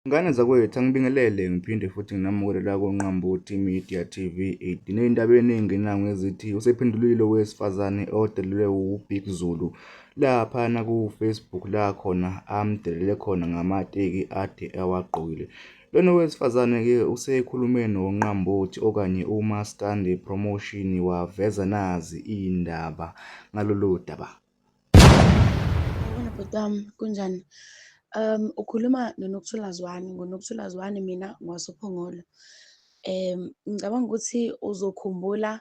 Ngane zakwethu angibingelele ngiphinde futhi nginamukele la koNqambothi Media TV 8 ney'ndaba ey'ningi nangu ezithi usephendulile owesifazane odelelwe wuBig Zulu laphana ku-Facebook la khona amdelele khona ngamateki ade awagqokile lona wesifazane-ke usekhulume noNqambothi okanye uMaskandi Promotion waveza nazi iy'ndaba ngalolu daba. bhuti wami kunjani um ukhuluma nonokuthula zwane ngonokuthula zwane mina ngwasophongolo um ngicabanga ukuthi uzokhumbula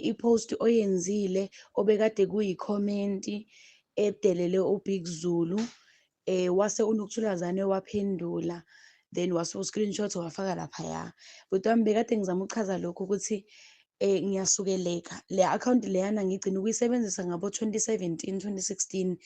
i-post oyenzile obekade kuyikhomenti edelele ubig zulu Eh wase unokuthula zane waphendula then wase u-screenshot wafaka laphaya. Bhuti wami bekade ngizama ukuchaza lokhu ukuthi eh ngiyasukeleka le account leyana ngigcina ukuyisebenzisa ngabo 2017 2016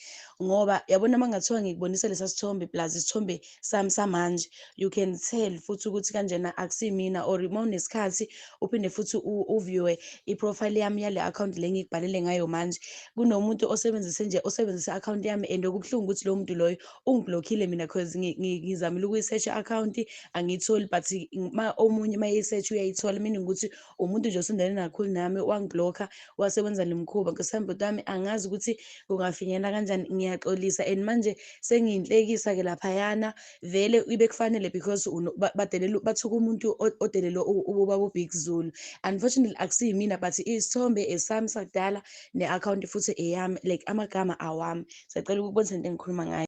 ngoba yabona mangathiwa ngikubonisa lesa sithombe plus isithombe sami samanje you can tell futhi ukuthi kanjena akusimina or uma unesikhathi uphinde futhi uviewe iprofile yami yale account le ngikubhalele ngayo manje kunomuntu osebenzise nje osebenzise account yami and okubuhlungu ukuthi lo muntu loyo ungiblockile mina cause ngizamile ukuyisearch account angiyitholi but ma omunye uma yisearch uyayithola meaning ukuthi umuntu nje osondele nakhulu nami wangiblocker wasebenza le mkhuba ngesambe kwami angazi ukuthi kungafinyela kanjani ngiyaxolisa and manje sengiyinhlekisa ke laphayana vele ibe kufanele because badelela bathuka umuntu odelelwe ubaba ubig zulu unfortunately akusiyimina but isithombe esami sakudala ne-akhawunti futhi eyami like amagama awami siyacela ukubona into engikhuluma ngayo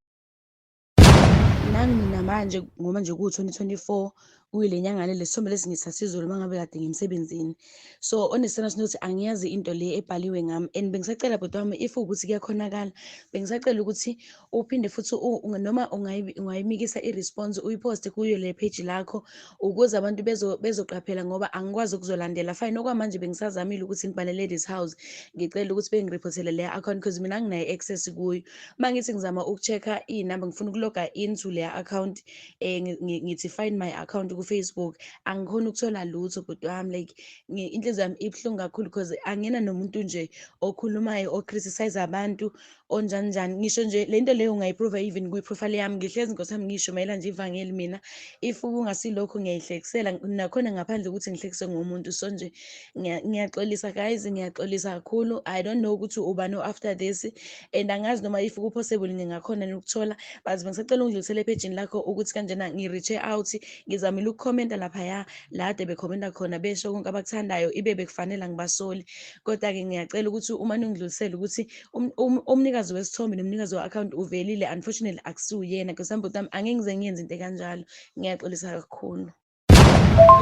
nami mina manje ngoba nje kuwu-2024 kuyile nyanga le lesithombe lesi ngisasizulu uma ngabe kade ngimsebenzini so onesithanda sinothi angiyazi into le ebhaliwe ngami and bengisacela bhuti wami if ukuthi kuyakhonakala bengisacela ukuthi uphinde futhi noma ungayimikisa i-response uyiposte kuyo le page lakho ukuze abantu bezoqaphela ngoba angikwazi ukuzolandela fine okwamanje bengisazamile ukuthi ngibhale ladies house ngicela ukuthi bengirephothele le account because mina nginayo access kuyo uma ngithi ngizama uku-check-a iy'namba ngifuna ukuloga into le account eh ngithi find my account ku Facebook angikhona ukuthola lutho bhuti wami like inhliziyo yami ibuhlungu kakhulu because angena nomuntu nje okhulumayo o criticize abantu onjani njani ngisho nje lento leyo ungayiprove even kwi profile yami ngihlezi nkosi yami ngisho mayela nje ivangeli mina if kungasilokho ngiyayihlekisela nakhona ngaphandle ukuthi ngihlekise ngomuntu so nje ngiyaxolisa guys ngiyaxolisa kakhulu i don't know ukuthi ubani o-after this and angazi noma if ku-possible ngingakhona nokuthola but bengisacela ungidlulisele ephejini lakho ukuthi kanjena ngi-reache out ngizamile ukukhomenta laphaya lade bekhomenta khona besho konke abakuthandayo ibe bekufanele angibasoli kodwa-ke ngiyacela ukuthi uma ningidlulisele ukuthi um, um, umnikazi wesithombe nomnikazi we-akhawunti uvelile unfortunately akusiwuyena because ambotami angeke ngize ngiyenze into ekanjalo ngiyaxolisa kakhulu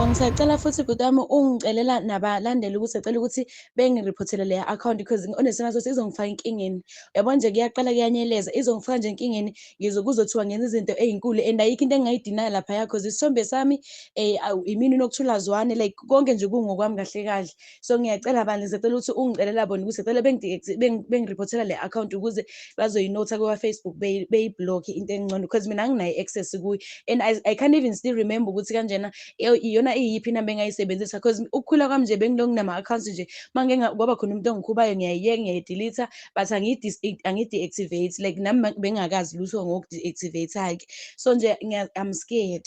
ngisacela futhi bhuti wami ungicelela nabalandeli ukuthi acela ukuthi bengirephothele leya account because onesimo sokuthi izongifaka enkingeni uyabona nje kuyaqala kuyanyeleza izongifaka nje enkingeni ngizokuzothiwa ngenza izinto ezinkulu and ayikho into engingayidinaya lapha yakho isithombe sami um imini nokuthula zwane like konke nje kungokwami kahle kahle so ngiyacela bandla ngisacela ukuthi ungicelela bona ukuthi cela bengiriphothela le account ukuze bazoyinotha kwa-facebook beyiblokhe into engcono because mina anginayo i-access kuyo and I, i can't even still remember ukuthi kanjena iyona iyiphi inamba engayisebenzisa because ukukhula kwami nje bengilo nginama-accounts nje mange kwaba khona umuntu ongikhubayo ngiyayiyeka ngiyayidilitha but angiyi-deactivate like nami bengingakazi lutho ngoku-deactivate-ke so nje i'm scared